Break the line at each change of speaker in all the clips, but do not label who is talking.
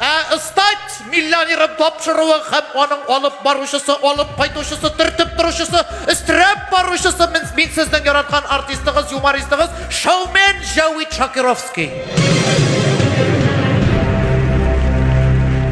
Ә стать миллионерын тапшыруы һәм аның алып баручысы, алып кайтучысы, төртеп торучысы, өстерәп баручысы мин сезнең яраткан артистыгыз, юмористыгыз, шоумен Җәвит Шакировский.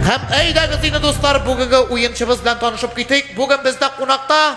Һәм әйдәгез инде, дуслар, бүгенге уенчыбыз белән танышып китик. Бүген бездә кунакта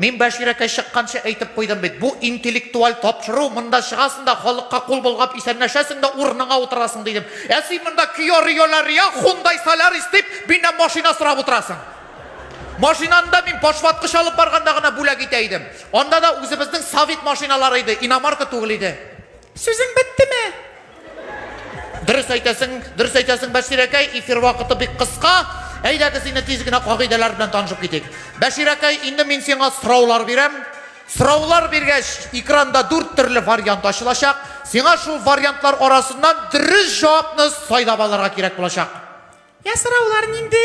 Мин Бәширәкәй чыкканчы әйтеп куйдым бит, бу интеллектуаль тапшыру, монда чыгасың да, халыкка кул болгап исәнләшәсең дә, урыныңа утырасың, дидем. Ә син монда Киа Рио Ла Риа, Хундай Солярис дип, миннән машина сорап утырасың. Машинаны да мин башваткыч алып барганда гына бүләк итә идем. Анда да үзебезнең Совет машиналары иде, иномарка түгел иде. Сүзең беттеме? Дөрес әйтәсең, дөрес әйтәсең, Бәширәкәй, эфир вакыты бик кыска. Әйдәгез инде тиз генә кагыйдәләр белән танышып китик. Бәширәкәй, инде мин сиңа сораулар бирәм. Сораулар биргәч, экранда дүрт төрле вариант ачылачак. Сиңа шул вариантлар арасыннан дөрес җавапны сайлап алырга кирәк булачак. Йә, сораулар
нинди?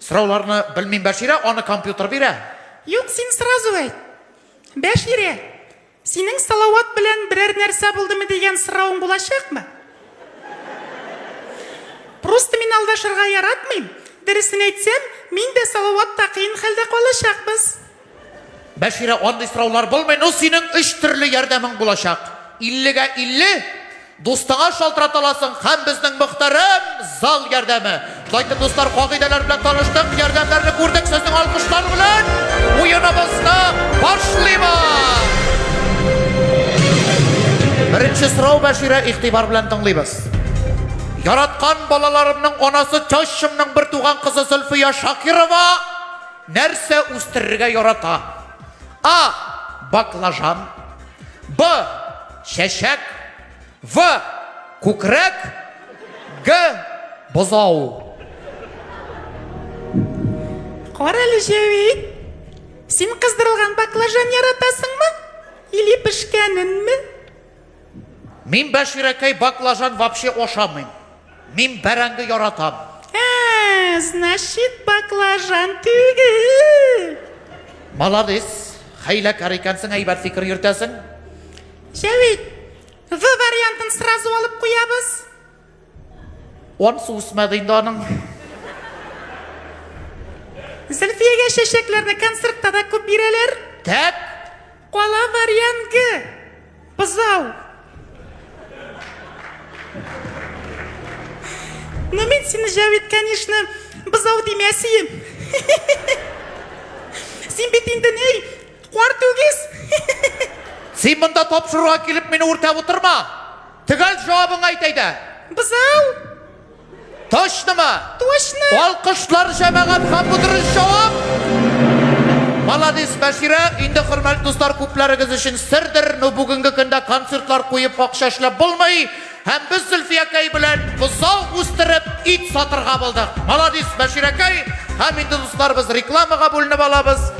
Сорауларны белмим, Бәширә, аны компьютер бирә. Юк, син
сразу әйт. Бәширә, Синең Салават белән берәр нәрсә булдымы дигән соравың булачакмы? Просто мин алдашырга яратмыйм. Дөресен әйтсәм, мин дә Салават та кыен хәлдә калачакбыз.
Бәширә, андый сораулар булмый, ну синең өч төрле ярдәмең булачак. Иллегә илле, Дустыңа шалтырата аласың һәм безнең мөхтәрәм зал ярдәме. Шулай итеп, дуслар, кагыйдәләр белән таныштык, ярдәмнәрне күрдек, сезнең алкышлар белән уеныбызны башлыйбыз! Беренче сорау, Бәширә, игътибар белән тыңлыйбыз. Яраткан балаларымның анасы Чащымның бер туган кызы Зөлфия Шакирова нәрсә үстерергә ярата? А. Баклажан. Б. Чәчәк. В. Күкрәк. Г. Бозау.
Карале Җәвит, син кыздырылган баклажан яратасыңмы? Или пешкәненме?
Мин, Бәширәкәй, баклажан вообще ашамыйм. Мин бәрәңге яратам. Ә, значит,
баклажан түгел.
Молодец. Хәйләкәр икәнсең, әйбәт фикер йөртәсең.
Җәвит, В вариантын сразу алып куябыз.
Онсы үсмәде инде аның.
Зөлфиягә чәчәкләрне концертта да күп бирәләр. Тәк
Кала
Марьянге! Бозау! Ну мин сине Җәвит, конечно, бозау димәсием. Син бит инде ни, кар түгез. Син монда
тапшыруга килеп мине үртәп утырма. Төгәл җавабыңа әйт әйдә. Бозау! Точнымы? Точно!
Алкышлар
җәмәгать һәм бу дөрес җавап! Маладис, Бәширә, инде хөрмәтле дуслар күпләрегез өчен сердер, но бүгенге көндә концертлар куеп акча эшләп булмый, һәм без Зөлфиякәй белән бозау үстереп ит сатырга булдык. Маладис, Бәширәкәй, һәм инде дуслар без рекламага бүленеп алабыз.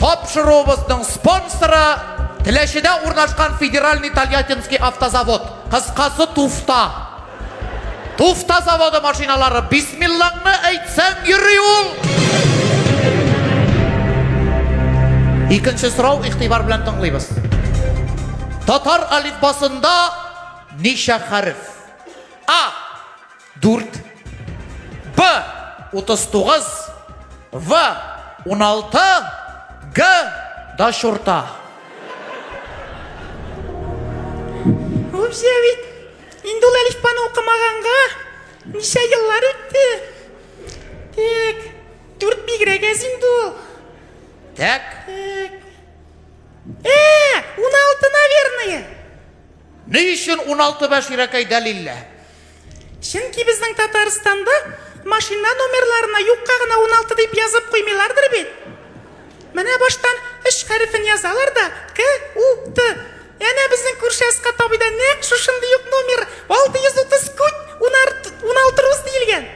Тапшыруыбызның спонсоры Теләчедә урнашкан Федеральный Тольяттинский автозавод, кыскасы Туфта. Туфта заводы машиналары, бисмиллаңны әйтсәң йөри ул! Икенче сорау игътибар белән тыңлыйбыз. Татар алифбасында ничә хәреф? А. 4. Б. 39. В. 16. Г. Да шурта.
Вообще ведь Инде ул әлифбаны укымаганга ничә еллар үтте? Тик, дүрт бигрәк әз инде ул. Так.
Тик.
Ә, уналты, наверное.
Ни өчен уналты бәширәкәй дәлиллә? Чөнки
безнең Татарстанда машина номерларына юкка гына уналты дип язып куймыйлардыр бит. Менә баштан өч хәрефен язалар да, К, У, Т. Әнә безнең күрше Әскат абыйда нәкъ шушындый ук номер, 630 күт, унарт, уналтырус диелгән.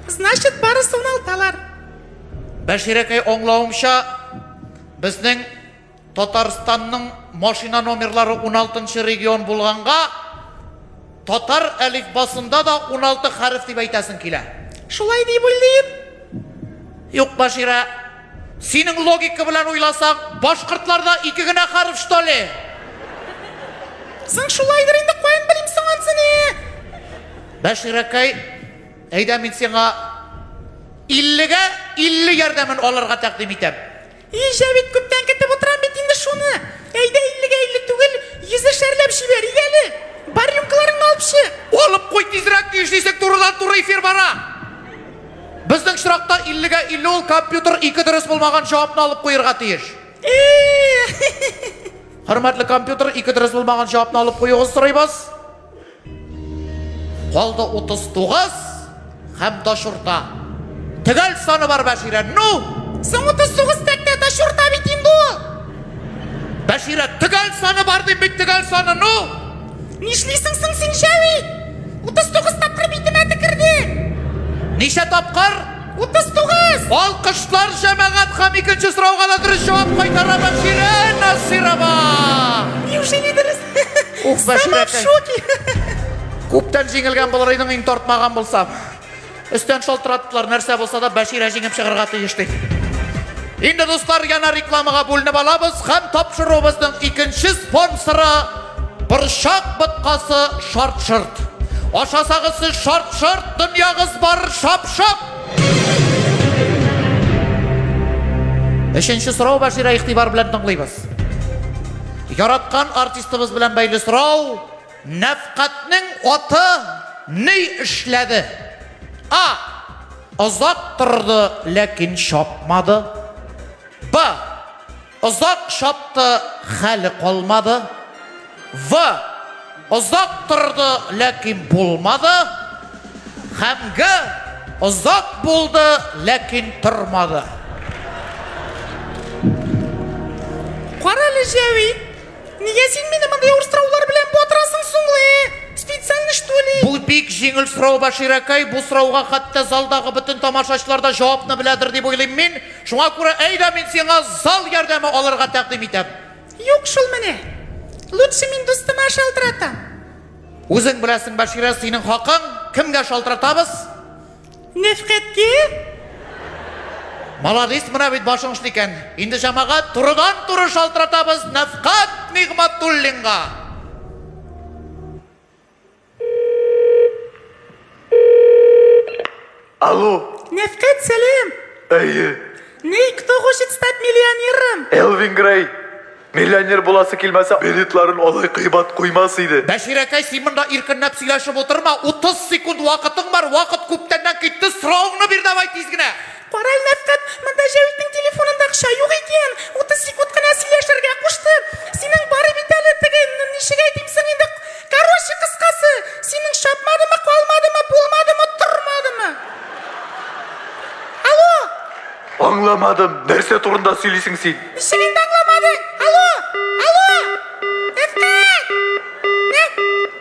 Значит, барысы уналталар.
Бәширәкәй, аңлавымча, безнең Татарстанның машина номерлары уналтынчы регион булганга, Татар әлифбасында да уналты хәреф дип әйтәсең килә. Шулай дип
уйлыйм.
Юк, Баширә. Синең логика белән уйласаң, башкортларда ике генә хәреф, что ли?
Соң шулайдыр инде, каян белим соң ансыны?
Бәширәкәй, әйдә мин сиңа иллегә илле ярдәмен алырга тәкъдим итәм. Ижә бит,
күптән көтеп утырам бит инде шуны. Әйдә, иллегә илле түгел, йөзешәрләп җибәр, ягәле. Бар рюмкаларыңны алып чык. Алып куй тизрәк,
нишлисең, турыдан-туры эфир бара. Безнең очракта иллегә илле ул компьютер ике дөрес булмаган җавапны алып куерга тиеш. Э-э-э-э-э-э-э. Хөрмәтле компьютер, ике дөрес булмаган җавапны алып куюыгызны сорыйбыз. Калды 39 һәм таш урта. Төгәл саны бар Бәширә. Ну! Соң 39
тәктә таш урта бит инде ул.
Бәширә, төгәл саны бар дип бит төгәл саны. Ну! Нишлисең
соң син җәви? 39 тапкыр битемә текерде. Ничә
тапкыр? 39.
Алкышлар
җәмәгать һәм икенче сорауга да дөрес җавап кайтара Бәширә Насирова.
Неужели дөрес? Ух, бәширәкәй. Күптән
җиңелгән булыр идең, иң тартмаган булса. Өстән шалтыраттылар, нәрсә булса да Бәширә җиңеп чыгарга тиеш дип. Инде дуслар, яна рекламага бүленеп алабыз һәм тапшыруыбызның икенче спонсоры Борчак боткасы шарт-шырт. Ашасагыз сез шарт-шырт, дөньягыз бар шап-шап. Өченче сорау Бәширә игътибар белән тыңлыйбыз. Яраткан артистыбыз белән бәйле сорау, Нәфкатьнең аты ни эшләде? А. Озак торды, ләкин чапмады. Б. Озак чапты, хәле калмады. В озак торды, ләкин булмады, һәм Г озак булды, ләкин тормады.
Карале, Җәвит, нигә син мине мондый авыр сораулар белән батырасың соң ле? Специально что ли? Бу бик җиңел сорау,
Баширәкәй. Бу сорауга хәтта залдагы бөтен тамашачылар да җавапны беләдер дип уйлыйм мин. Шуңа күрә әйдә мин сиңа зал ярдәме алырга тәкъдим итәм. Юк шул менә.
Лучше мин дустыма шалтыратам. Үзең
беләсең, Баширә, синең хакың. Кемгә шалтыратабыз? Нәфкатькә. Молодец, менә бит башың эшли икән. Инде җәмәгать турыдан туры шалтыратабыз Нәфкат Нигъмәтуллинга.
Алло. Нәфкәт, сәлам.
Әйе.
Ней, кто
хочет стать миллионером? Элвин Грей.
Миллионер буласы килмәсә, билетларын алай кыйбат куймас иде. Бәширәкәй, син монда
иркенләп сөйләшеп утырма. 30 секунд вакытың бар. Вакыт күптәннән китте. Соравыңны бир давай тиз генә. Кара әле, Мәфкать,
монда Җәвитнең телефонында акча юк икән, утыз секунд кына сөйләшергә кушты. Синең бар бит әле теге, ничек әйтим соң инде, короче, кыскасы, синең чапмадымы, калмадымы, булмадымы, тормадымы? Алло! Аңламадым,
нәрсә турында сөйлисең син? Ничек инде аңламадың?
Алло! Алло! Мәфкать! Мәф...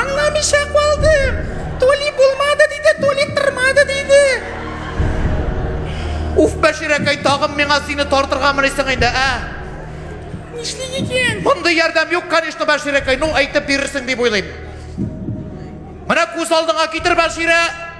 Аңламыйча калдым. Толи булмады диде, Толи тырмады диде.
Уф, Бәширәкәй, тагын миңа сине тартырга мынысың инде, ә? Нишлик
икән? Мондый ярдәм юк,
конечно, Бәширәкәй. Ну, әйтеп бирерсең дип уйлыйм. Менә күз алдыңа китер, Бәширә.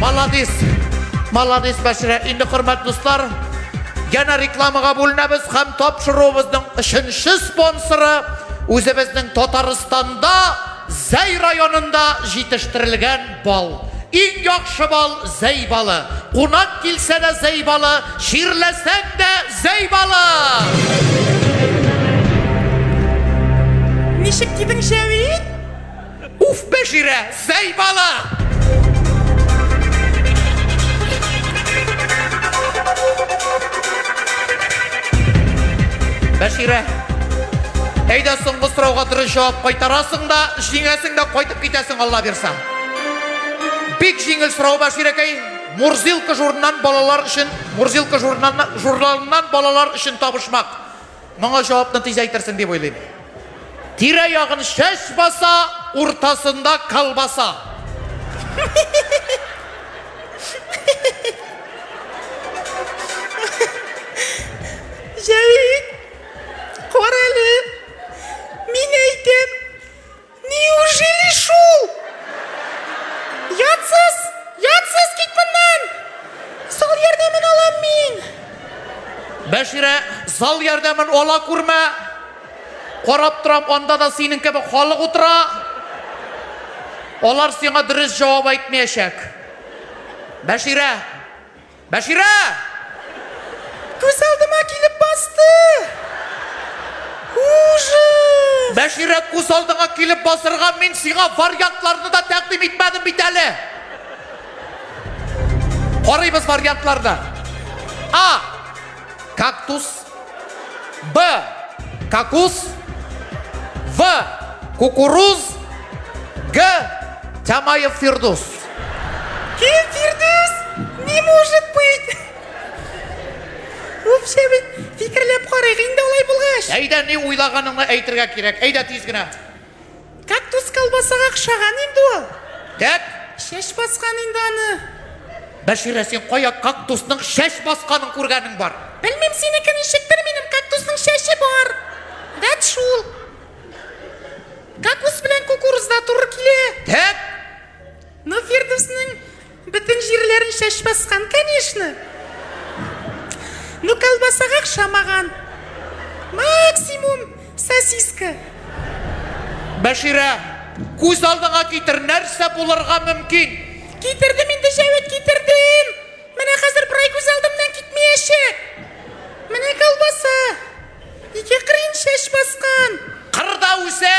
Маладис! Маладис Бәширә! Инде хөрмәт дуслар, янә рекламага бүленәбез һәм тапшыруыбызның өченче спонсоры үзебезнең Татарстанда Зәй районында җитештерелгән бал. Иң яхшы бал Зәй балы. Кунак килсә дә Зәй балы, чирләсәң дә Зәй балы!
Ничек кидең, Җәвит? Уф,
Бәширә, зәй бала! Бәширә, әйдә соңгы сорауга дөрес җавап кайтарасың да, җиңәсең дә кайтып китәсең, Алла бирса. Бик җиңел сорау, Бәширәкәй. Мурзилка журнан балалар өчен, Мурзилка журналыннан балалар өчен табышмак. Моңа җавапны тиз әйтерсең дип уйлыйм. Тирә-ягын чәч баса, уртасында колбаса.
Җәвит, кара әле, мин әйтәм, Неужели шул? Ятсыз, ятсыз кит моннан! Зал ярдәмен алам мин!
Бәширә, зал ярдәмен ала күрмә. Карап торам, анда да синең кебек халык утыра. Алар сиңа дөрес җавап әйтмәячәк. Бәширә, Бәширә!
Күз алдыма килеп басты! Ужас! Бәширә, күз
алдыңа килеп басырга мин сиңа вариантларны да тәкъдим итмәдем бит әле! Карыйбыз вариантларны. А. Кактус. Б. Какус. В. Кукуруз. Г. Тямаев Фирдус.
Кем Фирдус? Не может быть! Вообще бит фикерләп карыйк инде алай булгач. Әйдә, ни уйлаганыңны
әйтергә кирәк. Әйдә тиз генә. Кактус
колбасага охшаган инде ул. Тәк!
Чәч баскан
инде аны. Бәширә,
син кая кактусның чәч басканын күргәнең бар? Белмим, синеке
ничектер, минем кактусның чәче бар. Вәт шул. Кактус белән кукурузда туры килә. Тәк!
Ну,
Фирдүснең Бөтен җирләрен чәч баскан, конечно! Ну колбасага охшамаган. Максимум сосиска.
Бәширә, күз алдыңа китер, нәрсә булырга мөмкин? Китердем инде,
Җәвит, китердем! Менә хәзер берай күз алдымнан китмиячәк! Менә колбаса! Ике кырыен чәч баскан. Кырда үсә.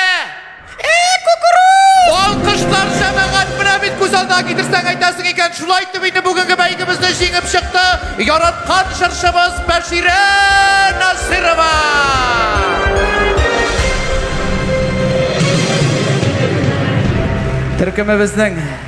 Ә, кукуруз!
Алкышлар җәмәгать!
Менә бит күз алдына китерсәң әйтәсең икән, шулай итеп инде бүгенге бәйгебезне җиңеп чыкты яраткан җырчыбыз Бәширә Насыйрова! Төркемебезнең